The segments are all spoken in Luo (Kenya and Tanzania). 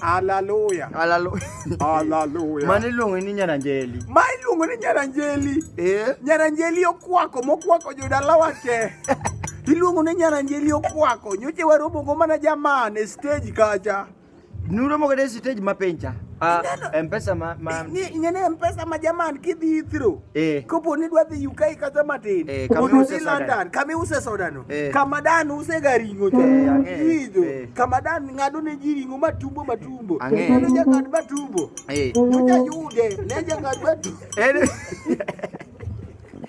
Hallelujah. Hallelujah. Hallelujah. Mano iluongo ni nyaranjeli. Ma iluongo ni nyaranjeli. Eh? Nyaranjeli okwako mokwako jodalawa te. Iluongo ni nyaranjeli okwako nyoche waromogo mana jaman e stage kacha. Nuromo kode stage mapenja. Ah, mpesa ma, ma... Ni, ingene mpesa ma jaman kidhi through. Eh. Kopo ni dwa dhi UK kata matin. Eh, kama use soda. London, kama use soda no. Eh. Kama dan use garingo cha. Eh, Hijo. Eh. Kama dan ngado ne jiringo matumbo matumbo. Ang'e. Kama jangad matumbo. Eh. Mucha yude, ne jangad matumbo. Eh.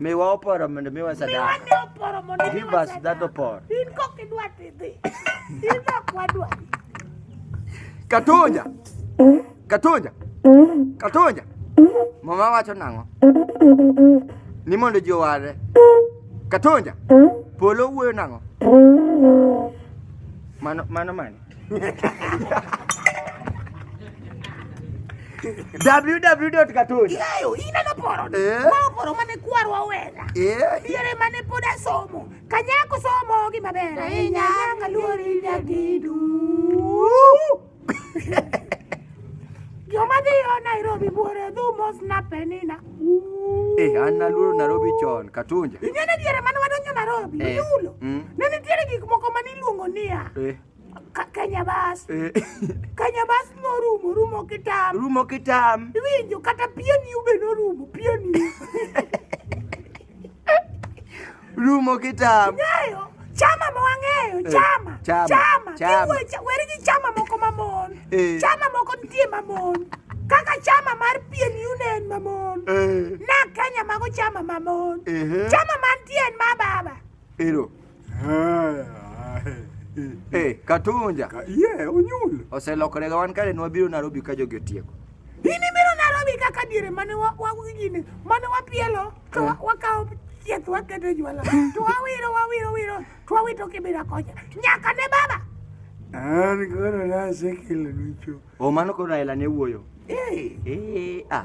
Miwa oporo mondo miwa sadaka. Miwa ne oporo mondo miwa sadaka. Give us that oporo. In kok idwa tidhi. In ok wadwa. Katoja. Katoja. Katoja. Mama wacho nang'o? Ni mondo ji owarre. Katoja. Polo wuoyo nang'o? Mano mano mani. www.katoni yayo ineno poro Eh. ma poro mane kwarwa wenda Eh. diere mane pod asomo kanyako somo gi maber ahinya nyaka luori nyagidu Joma dhiyo Nairobi buore dhumos na penina. Eh, an naluoro Nairobi chon, Katunja. Ing'e ni diere mane wadonjo Nairobi, Eh. yulo. Mm. Ne nitiere gik moko mane iluongo niya, Eh, Ka- Kenya bus. eh. Kenya bus norumo, rumo kitam. Rumo kitam. Iwinjo kata pieni ube norumo, pieni. Rumo kitambo. Ng'eyo chama ma wang'eyo eh, chama chama chama chama weri gi chama moko mamon eh. chama moko nitie mamon kaka chama mar pien union mamon eh. na Kenya mago chama mamon chama mantie en ma baba. Ero. Hey, eh, Katunja. Ka, yeah, onyul. Oselokore wan kare ne wabiro Nairobi ka jogi otieko. Ini biro Nairobi kaka diere mane wa wa gini mane wapielo to eh. wakawo chieth wakete jwala to wawiro wawiro wiro to wawito kibira kocha nyaka ne baba. An koro nasekelo nicho. O mano koro Raila ne wuoyo. Eh. Eh, ah.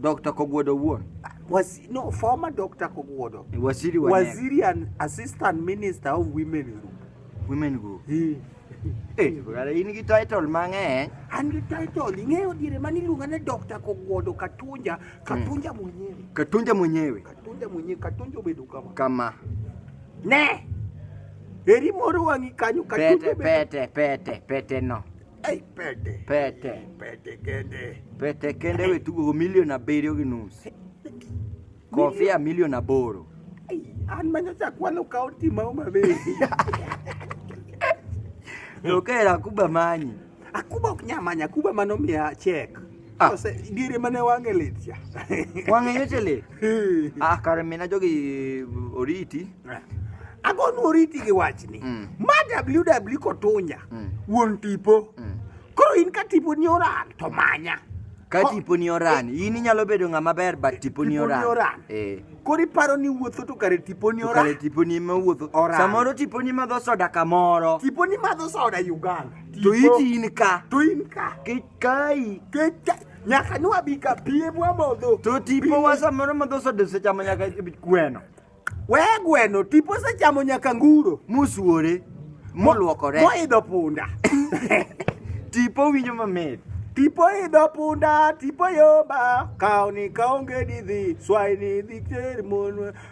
Dr. Kogwodo wuon. Was, no, former Dr. Kogwodo. Waziri wa Waziri and Assistant Minister of Women Group. Women Group. He. Eh, brother, in gi title mang'eny. An gi title, ing'eyo diere mani iluonga ni Dr. Kogwodo Katunja, Katunja mwenyewe. Katunja mwenyewe. Katunja mwenyewe, Katunja obedo kama. Kama. Ne! Eri moro wang'i kanyo, Katunja Pete, obedo. pete, pete, pete no. Ei, pete. Pete. Pete kende. Pete kende we tugo go milion abiriyo gi nus. Kofia milion aboro. An manyacha kwano kaunti ma Homa Bay. Tokera Akuba manyi. Akuba ok nyamanya, Akuba mano miya chek. Ah. Sasa giri mane wange lit ya. Wange yote le. Ah, kare mena jogi oriti. Eh. Agon oriti gi wachni. Mm. Ma WW kotunya. Mm. Wuon tipo. Mm. Koro in ka tipo ni oran to manya. Ka tipo ni oran, eh. in inyalo bedo ng'ama ber but tipo ni oran. Tipo ni oran. Eh. Koro iparo ni wuotho to kare tipo ni oran. Kare tipo ni ma wuotho. Oran. Samoro tipo ni madho soda kamoro. Tipo ni madho soda Uganda. Tipo. To iti in ka. To in ka. Ki Kai, kecha nyaka nwa bi ka piem wa modho. To tipo wa samoro modho sodo se chamo nyaka gweno. We gweno, tipo se chamo nyaka nguro. Musuore. Moluokore. Moidho punda. tipo winyo mamit. Tipo idho punda, tipo yomba, kaw ni kaonge didhi, swai ni dhi ter mon.